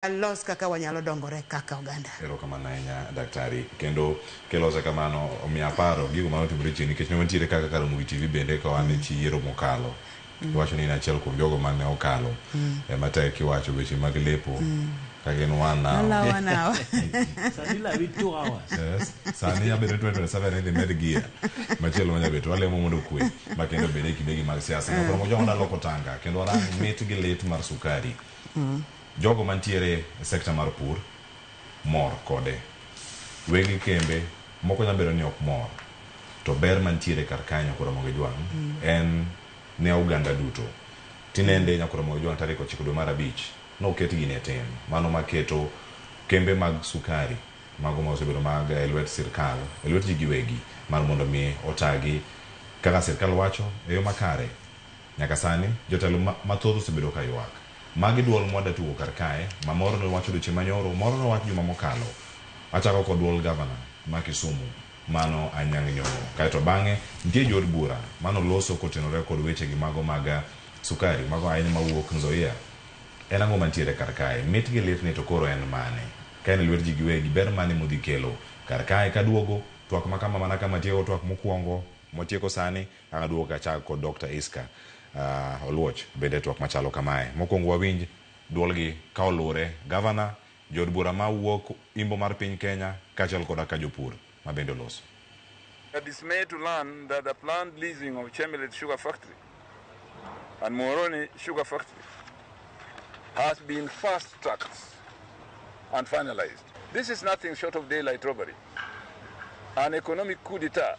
walos kaka wanyalo dongore kaka oganda. Erokamano ahinya daktari kendo kilose kamano omiyo aparo gigo mane otimore chien nikech ne wantiere kaka Karamogi TV bende ka wan e chi yiero mokalo mm. iwacho ni in achiel kuom jogo mane okalo mm. e matek kiwacho weche mag lepo mm. kagin one hour sani lawi two hours yes sani yabedo 2027 idhi med gear machielo manya beto walemo mondo kwe ma kendo bede kidegi mag siasa koro mojo ndalo kotanga kendo warang mit gi lit mar sukari mm. Jogo mantiere e sector mar pur mor kode. Weg kembe moko nyalo bedo ni ok mor to ber mantiere kar kae Nyakwar Ramogi Ojwang' en ne oganda duto. Tinende Nyakwar Ramogi Ojwang' tarik ochiko dwe mar abich noket gini e tim. Mano maketo kembe mag sukari mago ma osebedo mag e lwet sirkal, e lwet ji giwegi mar mondo mi otagi kaka sirkal wacho e yo makare. Nyaka sani, jotelo ma mathoth osebedo ka ywak. Magi dwol mwa datugo kar kae, ma moro ne owacho odiochieng' manyoro, moro ne owach juma mokalo. Achako kod dwol Gavana ma Kisumu, mano Anyang' Nyong'o. Kae to bang'e, nitie jo od bura ma noloso kotenore kod weche gi mago mag sukari, mago ahinya ma wuok Nzoia. En ang'o mantiere kar kae? Mit gi litni to koro en mane? Ka en e lwet ji giwegi, ber mane mudhi kelo kar kae? Kaduogo, twak ma kama mana kama tieko twak mokwongo, motieko sani, An aduogo ka achak kod Dokta Isca uh, Oluoch bende e twak machalo kamae. Mokwongo wawinj duolgi ka oluwre, gavana, jood bura ma wuok imbo mar piny Kenya kaachiel koda ka jopur ma bende oloso. We are dismayed to learn that the planned leasing of Chemelil Sugar Factory and Muhoroni Sugar Factory has been fast-tracked and finalized. This is nothing short of daylight robbery, an economic coup d'etat.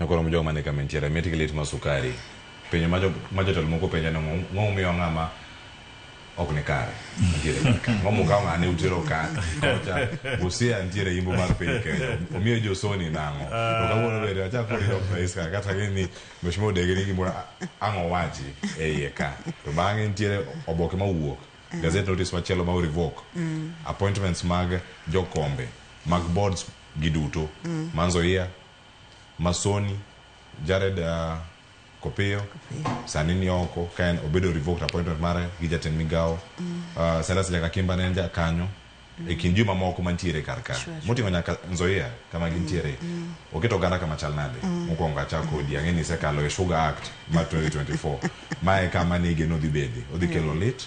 Nokoro mo jogo mane kama entiere, mit gi lit ma sukari. Penjo ma jo, ma jotelo moko penja ni ng'o ng'o momiyo ng'ama ok ni kare nitiere kar ka. Ng'o mokawo ng'ane utero ka kocha. Busia nitiere imbo mar piny Kenya. Omiyo josoni nang'o. To kawuono bende achak kodi dok rais ka kata ng'e ni mheshimiwa odege ni gimoro ang' owachi e iye ka. To bang'e nitiere oboke ma wuok. Gazette notice machielo ma o revoke. Appointments mag jokombe mag boards gi duto. Ma Nzoia Masoni, Jared uh, Kopiyo sani ni oko ka en obedo revoked appointment mare gi jatend migawo mm. uh, Silas Jakakimba ne en jakanyo mm. e kind juma moko mantiere kar ka sure, moting'o nyaka Nzoia kama mm, gintiere mm. mm. oketo oganda kama chal nade mm. mokwongo achak kodi ang'e ni isekalo e Sugar Act ma 2024 ma e kama ne igeno dhi bede odhi kelo lit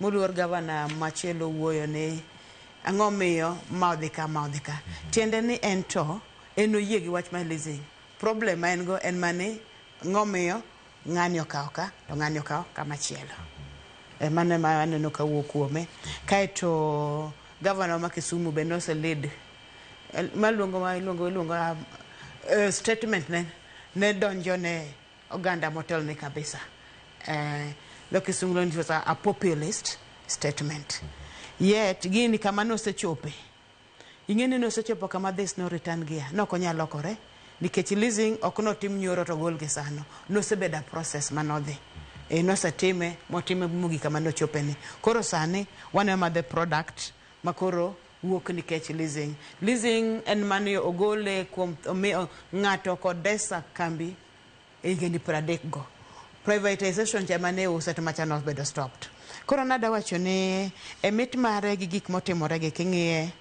Moluor gavana machielo wuoyo ni ang'o miyo ma odhi ka ma odhi ka. Tiende ni en to en oyie gi wach mar leasing. Problem ma en go en mani ng'omiyo ng'ani okawo ka to ng'ani okawo kama chielo. E mano ema aneno ka wuok kuome. Kaeto gavana ma Kisumu be nose lead maluongo iluongo iluongo statement ne ne donjo ne Oganda motelni kabisa. Eh, dho kisungu luongo ni was a, a populist statement. Yet gini kama nosechope. Ing'e ni nosechopo kama this no return gear. Ne ok onyal lokore nikech leasing ok notim nyoro to gol gi sano. Nosebedo a process manodhi. E, nosetime motime mogik kama nochopeni. Koro sani waneno ma the product ma koro wuok nikech leasing. Leasing en mane ogole kuom omi- ng'ato Kodesa kambi e higeni pradek go privatization cha mane iuse to macha nobedo stopped koro nada wacho ni e mit mare gi gik motimore gi king'iye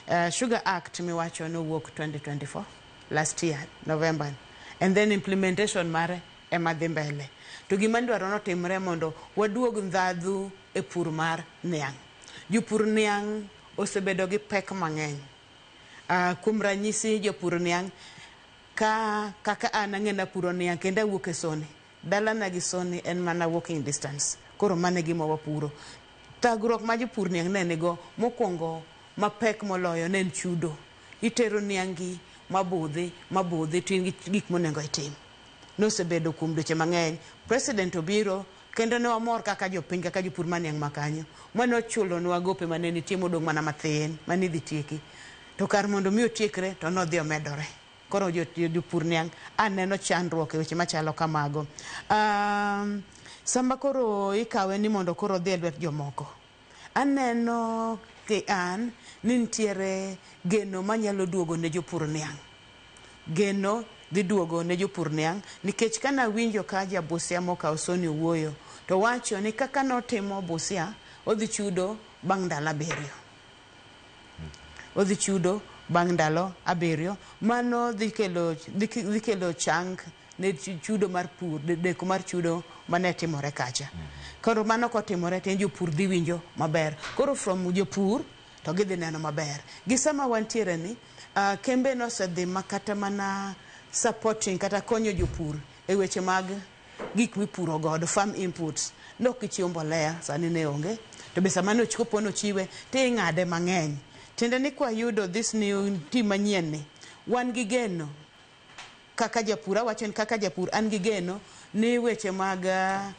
uh, sugar act miwacho nowuok 2024 last year november and then implementation mare ema dhi mbele to gima ndwaro notimre mondo waduog ndhadhu e pur mar niang' jopur niang' osebedo gi pek mang'eny uh, kuom ranyisi jopur niang' Ka kaka an ang'e napuro niang' kendo awuok e Soni. Dalana gi Soni en mana walking distance. Koro mano e gima wapuro. Thagruok ma jopur niang' ne nigo mokwongo mapek moloyo ne en chudo. Itero niangi ma budhi ma budhi to in gi gik monengo itim. Nosebedo kuom dweche mang'eny. President obiro kendo ne wamor kaka jopiny kaka jopur ma niang' ma kanyo mane ochulonwa gope mane nitie modong' mana mathin mane idhi tieki. To kar mondo mi otiekre to nodhi omedore. Koro jopur niang' a neno chandruok e weche machalo kamago. Um, sama koro ikawe ni mondo koro odhi e lwet jomoko, aneno ki an ni nitiere geno manyalo duogo ne jopur niang'. Geno dhi duogo ne jopur niang' nikech ka nawinjo ka ja Busia mokawo Soni owuoyo to wacho ni kaka notimo Busia odhi chudo bang' ndalo abiriyo. Odhi chudo bang' ndalo abiriyo. Mano dhi kelo, dhi kelo chang ne chudo mar pur, deko mar chudo mane timore kacha. Koro mano kotimore to en jopur dhi winjo maber. Koro from jopur to gidhi neno maber. Gi sama wantiere ni, uh, kembe nosedhi makata mana supporting kata konyo jopur e weche mag gik mipuro godo, farm inputs, ne ok ichiw mbolea, sani ne onge, to be sama ne kopo ni ochiwe to ing'ade mang'eny. Tiende ni kwayudo this new tim manyien ni, wan gi geno kaka japur, awacho ni kaka japur an gi geno ni weche mag uh,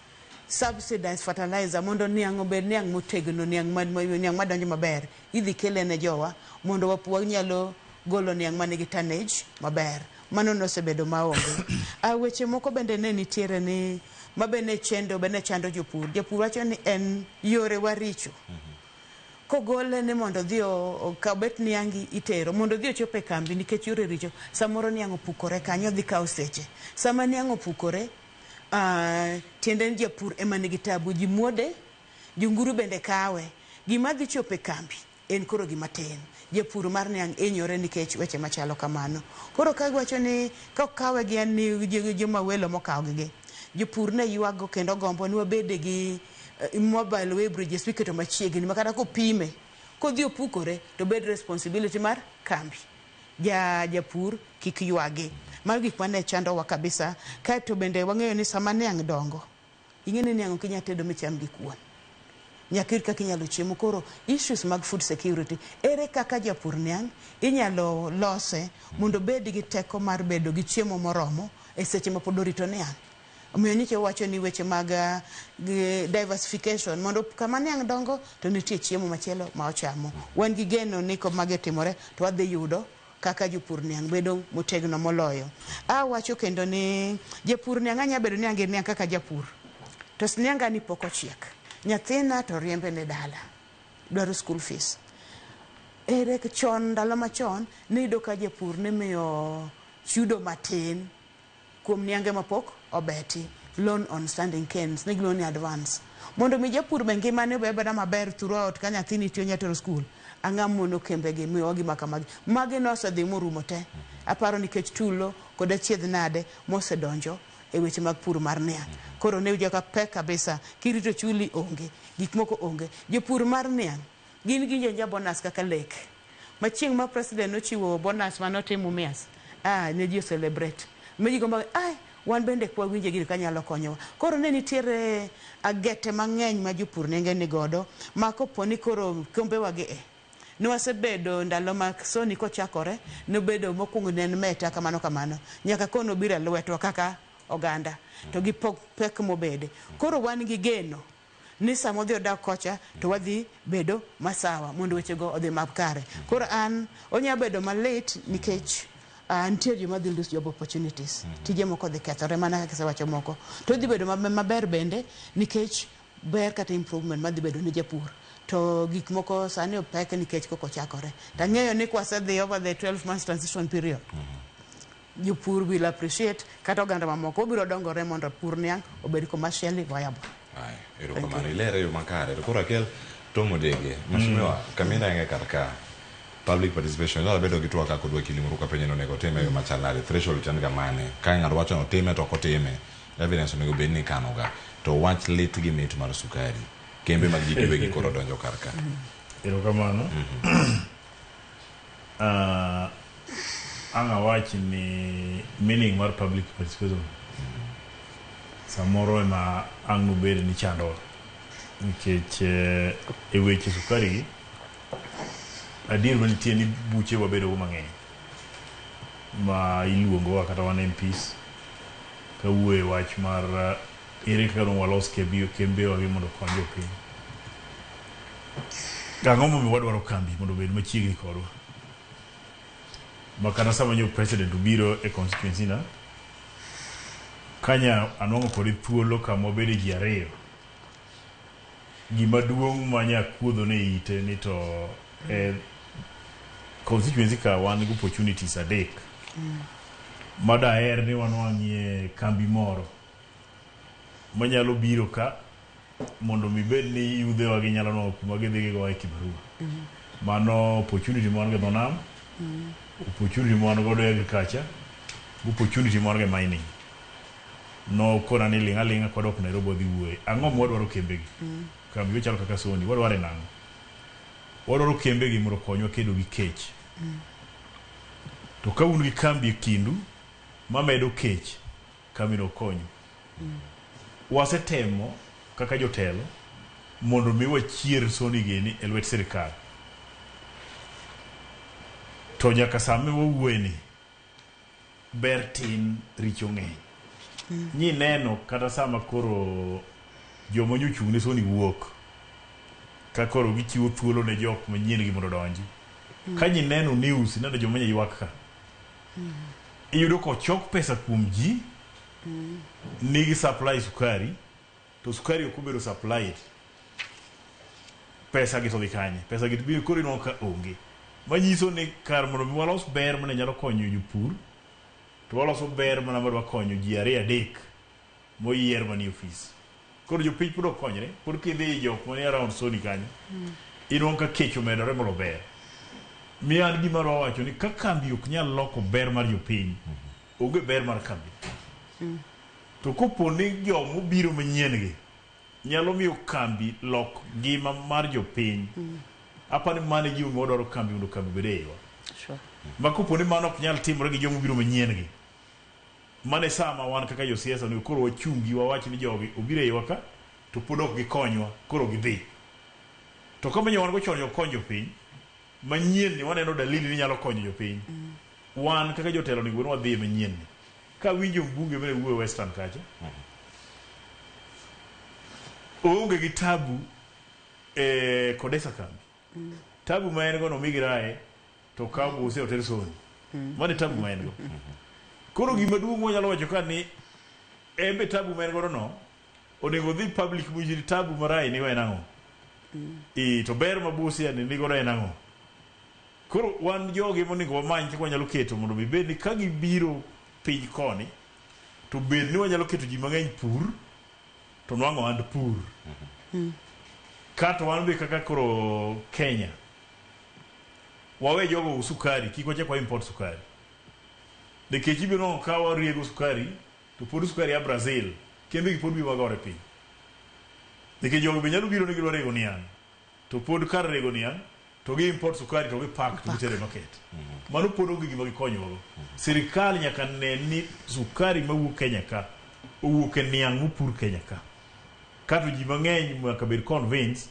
subsidized fertilizer mondo niang' obed niang' motegno, niang' ma, niang' madonjo maber Idhi kele ne jowa mondo wap wanyalo golo niang' ma nigi tonnage maber. Mano nosebedo ma onge. A weche moko bende ne nitiere ni ma be ne chendo be ne chando jopur. Japur wacho ni en yore wa richo. Kogole ni mondo odhi okaw bet niangi itero mondo odhi ochop e kambi nikech yore richo. Samoro niang' opukore kanyo odhi kawo seche. Sama niang' opukore, ah, tiende ni japur ema nigi tabu. Ji muode. Jonguru bende kawe. Gima dhi chopo e kambi en koro gima tin. Japur mar niang' hinyore nikech weche machalo kamano. Koro ka giwacho ni ka ok kawe gi en ni joma welo ema okawo gi gi. Jopur ne yuaggo kendo gombo ni wabede gi mobile weighbridges miketo machiegni ma kata kopime kodhi opukore to bed responsibility mar kambi. Ja japur kik yuagi. Mago gik mane chandowa kabisa. Kaeto bende wang'eyo ni sama niang' dongo. Ing'e ni niang' ok inyal tedo micham gi kuon. Nyaka ir kaka inyalo chiemo. Koro issues mag food security, ere kaka japur niang' inyalo lose mondo obed gi teko mar bedo gi chiemo moromo e seche mapod orito niang'. Omiyo nyicha wawacho ni weche mag diversification mondo kama niang' dongo to nitie chiemo machielo ma ochamo. Wan gi geno ni komagi otimore to wadhi yudo kaka jopur niang' bedo motegno moloyo. A wacho kendo ni japur niang' anya bedo ni ange niang' kaka japur. To snianga ni pok ochiek. Nyathina to riembe ne dala. Dwaro school fees. Ere chon ndalo machon niyudo ka japur nimiyo chudo matin. Kuom niange mapok obeti, loan on standing canes, ne giluongo ni advance. Mondo mi japur be ngimane obe abeda maber throughout ka nyathini tiyo nyatero school, ang'a mono kembe gi miyowa gi maka magi. Magi nosedhi morumo te. Aparo nikech tulo kod achiedh nade mosedonjo e weche mag pur mar niang'. Koro ne iyudo ka pek kabisa, kirito chuli onge, gik moko onge. Jopur mar niang'. Gin gi njenja bonus kaka lek ma chieng ma president nochiwo bonus mane otim umias aah ne ji o celebrate ma ji gombo ga ai wan bende kwa winje gini ka nyalo konyowa koro ne nitiere agete mangeny ma jopur nenge ni godo ma koponi koro kombe wa gi e ne wasebedo ndalo ma soni kochakore nobedo mokuongo ne en meta kamano kamano nyaka koro nobiro e lwetwa kaka oganda to gi pek mobede koro wan gi geno ni sama odhi odak kocha to wadhi bedo masawa mondo wechego odhi makare. Koro an onya bedo malit nikech uh, nitie joma dhi lose job opportunities. Tije moko dhi kethore mana kaka isewacho moko. To dhi bedo mabe- maber bende nikech ber kata improvement madhi bedo ne japur. To gik moko sani opek nikech koko chakore. Tang'eyo ni kwasedhi over the 12 months transition period. Jopur will appreciate kata oganda mamoko obiro dongore mondo pur niang' obed commercially viable. Haya, erokamano ilere yo makare to koro akel tom odege mheshimiwa kamina enge kar ka public participation inyalo bedo gi twak kaka odwa kinde moro ka penjo ni onego otime e yo machal nade threshold to en ga mane ka ng'ato wacho ni otime to ok otime evidence onego bed ni ikano ga to wach lit gi mit mar sukari kembe mag ji giwegi koro donjo kar ka Erokamano. Uh, ang' awach ni meaning mar public participation samoro ema ang' nobed ni chandowa nikech eh, e weche sukari gi adier manitie ni buche wabedogo mang'eny ma iluongowa kata wan MPs kawuoyo e wach mar eh, ere kaka dong' walos kembe- kembewa gi mondo okony jopiny Ang'o momiyo wadwaro kambi mondo obed machiegni kodwa? Makata sama nyo president obiro e constituency na, kanya anwang'o kode thuolo kama wabede ji ariyo, gima duong' ma nya kuodho ne ite ni to e constituency ka wan gi opportunities adek ma daher ni wanwang'ie kambi moro manyalo biro ka mondo mi bed ni yudhe wa ginyalo nwa kuma gidhi gigo e kibarua mano opportunity mwan go nam opportunity mwan go do agriculture opportunity mwan go mining no kona ni linga linga kwa dok Nairobi wadhi wuoye ang'o mwa dwaro kembe gi kambi chalo kaka Sony wadwaro nang'o wadwaro kembe gi mondo konywa kedo gi kech to ka un gi kambi e kindu mamedo kech Kamera okonyu. Wasetemo kaka jotelo mondo mi wachier soni gini e lwet sirkal. To nyaka same wawuoye ni, ber tin richo ng'eny. Nyineno kata sama koro joma nyo ochung' ne soni wuok, ka koro gichiwo thuolo ne jok manyien gi mondo odonji. Ka nyineno news ineno joma nyo ywak ka. iyudo kochok pesa kuom ji nigi supply sukari to sukari ok obedo supplied pesa gi to gi kanye pesa gi to biro koro ineno ka onge manyiso ni kar mondo mi walos ber mane nyalo konyo jopur to waloso ber mana madwa konyo ji ariyo adek moyier manie ofis. Koro jopiny pod okonyre, pod kidhi i jok manie around Sony kanyo, inwang'o ka kech omedore molo ber. Miyo an gima adwa wacho ni ka kambi ok nyal loko ber mar jopiny, onge ber mar kambi. To kopo ni jo mobiro manyien gi nyalo miyo kambi lok ngima mar jopiny, apa ni mano e gima omiyo wadwaro kambi mondo kambi obed e iwa. Sure. Ma kopo ni mano ok nyal timore gi jo mobiro manyien gi, Mano e saa ma wan kaka josiasa onego koro wachungi wawach ni jogi obiro eiwa ka to pod ok gikonywa koro gidhi. To kama nyo wan go chon ne ok kony jopiny, manyien ni waneno dalili ni nyalo konyo jopiny. Wan kaka jotelo onego bed ni wadhi e manyien ni. Ka awinjo mbunge mane wuoyo western kacha, oonge gi tabu e Kodesa kambi. Tabu ma en go no migi rae to ka buse oter soni. Mane tabu ma en go. Koro gima duong' mwanyalo wacho ka ni embe tabu ma en go no onego dhi public mujiri tabu ma rae nigo en ang'o. Ee to ber ma buse yani nigo en ang'o. Koro wan jogi monego wamany kaka wanyalo keto mondo mi bed ni ka gibiro piny koni to bed ni wanyalo keto ji mang'eny pur. to nwang'o ohand pur kato wan be kaka koro Kenya wawe jogo us sukari kik wachak wa import sukari nikech ibiro neno ka wariego sukari to pod sukari ya Brazil kembe gi pod biro magore piny nikech jogo be nyalo biro ni gidwa rego niang' To pod kar rego niang to gi import sukari to gi pack to gitere market. Mano pod onge gima gikonyowa go. Sirkal nyaka ne ni sukari mawuok Kenya ka owuok e niang mopur Kenya ka. Kato ji mangeny nyaka bed convinced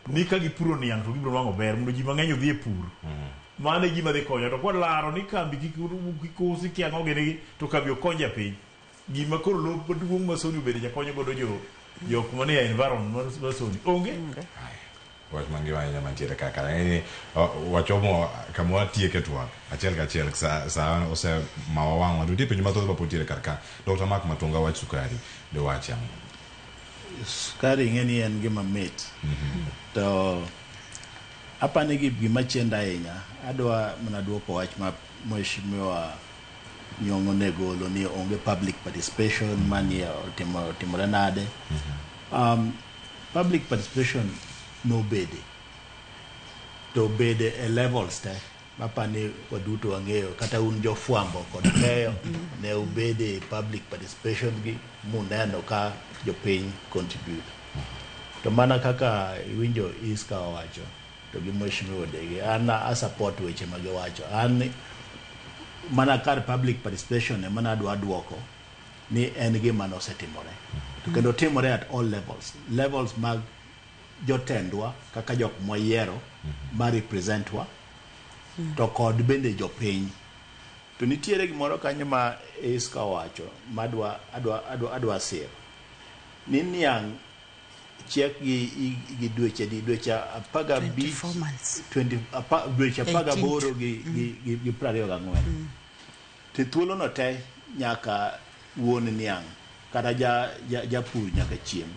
ni ka gipuro niang to gibiro nwango ber mondo ji mangeny odhi e pur. Mano e gima dhi konyo to kwa laro ni kambi kik usi kia ango gini gi to kambi ok kony japiny. Gima koro lop maduong' ma Sony obedo jakonyo godo jo jok manie environment mar mar Sony onge. wach mangima ahinya mantiere kaka ni wachomo kama watieke twak achiel kachiel sa, sa ose mawa wang'wa to nitie penjo mathoth mapod tiere kar ka dr mark matunga wach sukari de wache ang'o sukari ing'e ni en gima mit to apani gi gima chenda ahinya adwa mana dwoko wach ma mheshimiwa Nyong' onegolo ni onge public participation mani otimore nade um, public participation nobede to bede e levels te mapani waduto wang'eyo kata un jofwambo kod keyo ne ubede public participation gi muneno ka jopiny contribute to mana kaka iwinjo iska owacho to gi Mheshimiwa Odege. An a support weche ma giwacho. An mana kar public participation ema nadwa duoko ni en gima nosetimore. To kendo timore at all levels. Levels mag jotendwa kaka jok mwayiero ma representwa to kod bende jopiny. To nitiere gimoro kanyo ma Isca owacho madwa adwa adwa adwa siro ni niang' chiekgi gi dweche di dweche apar gabich dweche apar gaboro gi mm. piero ariyo gang'wen mm. to thuolono te nyaka wuon niang' kata japur nyaka chieng'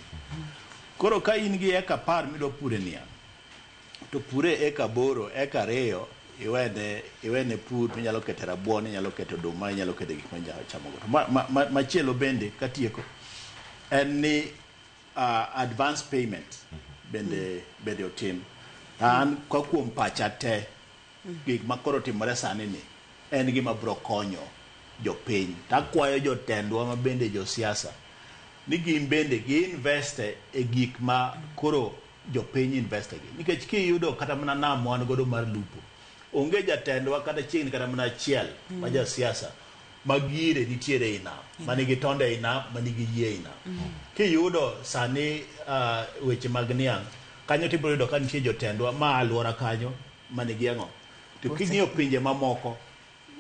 koro ka in gi eka apar midwa pure niang' To pure eka aboro, eka ariyo iwene iwene pur minyalo kete rabuon, inyalo kete oduma, inyalo kete gik minyalo chamo go. To ma, ma, ma, machielo bende katieko en ni uh, advance payment bende bende otim. An kwa kuom pacha te gik ma koro timore sani ni en gima bro konyo jopiny. Takwayo jotendwa ma bende josiasa ni gin bende gi invest e gik ma koro jopiny investor gi nikech kiyudo kata mana nam wan godo mar lupo onge jatendwa kata chiegni kata mana achiel mm. ma jasiasa ma gire nitiere i nam mm. manigi tonde i nam manigi yie i nam mm. kiyudo sani uh, weche mag niang' kanyo tibiro yudo ka nitie jotendwa ma alwora kanyo manigi ang'o to king'iyo pinje mamoko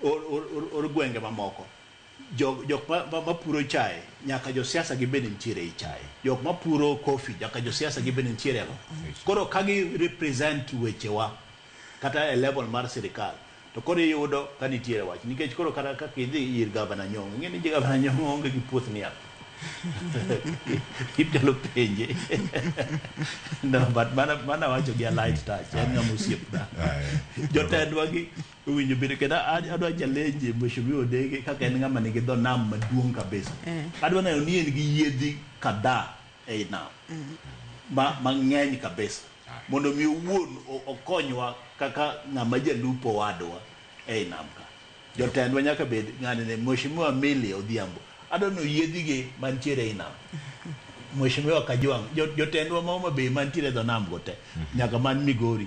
or gwenge mamoko. Jok mapuro chae nyaka jo siasa gibed ni nitiere ei chae. Jok mapuro coffee nyaka jo siasa gibed ni nitiere go. Koro ka gi represent wechewa kata e level mar sirkal to koro iyudo ka nitiere wach nikech koro kata kaka idhi ir Gavana Nyong'o ing'e ni Gavana Nyong'o onge gi puoth niang'. Inyalo penje. No, but mano awacho gi a light touch, en ng'ama osiepna. Jotendwa gi Iwinjo bende kendo adwa challenge Mheshimiwa Odege kaka en ng'ama nigi dho nam maduong' kabisa. Eh. Adwa neno ni en gi yiedhi kadhaa ei nam ma mang'eny kabisa mondo mi owuon o- okonywa kaka ng'ama jalupo wadwa ei nam ka. Jotendwa nyaka bed ng'ani ne Mheshimiwa Milly Odhiambo. Adwa neno yiedhige mantiere ei nam. Mheshimiwa Kajwang', jo- jotendwa ma Homa Bay mantiere e dho nam go te nyaka man Migori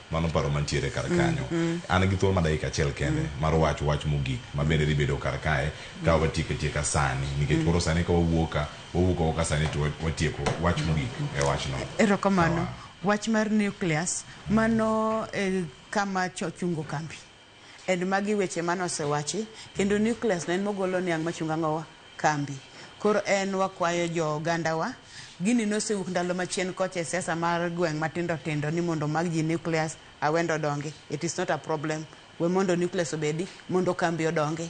Mano paro mantiere kar mm, kanyo. Mm -hmm. An gi thuolo ma dakika achiel kende mm -hmm. mar wacho wach mogik ma bende dhi bedo kar kae mm -hmm. ka watieko tieka sani nikech mm -hmm. koro sani ka wawuoka wawuoka waka sani to watieko wach mm-hmm. mogik mm -hmm. e wachno. Erokamano. Wach mar nucleus mano e, kama chochungo kambi. And magi weche mane osewachi kendo nucleus neen mogolo niang machunga ngowa kambi koro en wakwayo jo oganda wa gini nosewuok ndalo machien kocha e siasa mar gweng matindo tindo ni mondo omak ji nucleus awendo odongi it is not a problem we mondo nucleus obedi mondo kambi odongi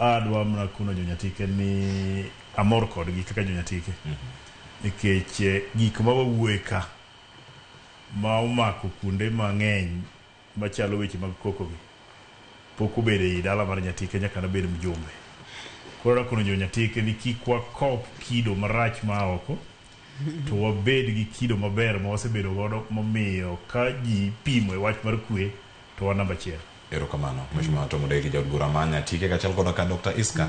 Adwa mna kuno jonyatike ni amor kodgi kaka jonyatike nikech eh, gik ma wawuoye ka ma omako kuonde mang'eny machalo weche mag kokogi pok obedo ei dala mar nyatike nyaka nabed mjumbe koro adwa kono jonyatike ni kik wakop kido marach ma a oko to wabed gi kido maber ma wasebedo godo momiyo ka ji pimo e wach mar kwe to wan namba achiel. Erokamano Mheshimiwa Tom Odeki, Jaod Bura ma Nyatike kachal koda ka Dr. Isca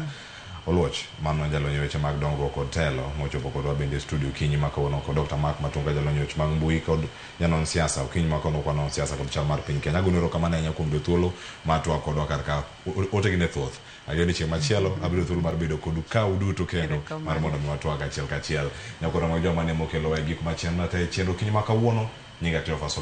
Oluoch mano jalony e weche mag dongruok kod telo mochopo kodwa bende e studio okinyi ma kawuono kod Dr. Mark Matunga jalony e weche mag mbui kod janon siasa okinyi ma kawuono kwanon siasa kod chal mar piny Kenya. Agonu erokamano ahinya kuom yudo thuolo mar twak kodwa kar ka ote gi ne thoth. Ayie ni chieng' machielo abiro thuolo mar bedo kodu ka uduto kendo mar mondo mi watwag achiel kachiel. Nyakoro mag joma ne mokelo e gik machien na te chenro okinyi ma kawuono nyinga Cleophas Oluoch.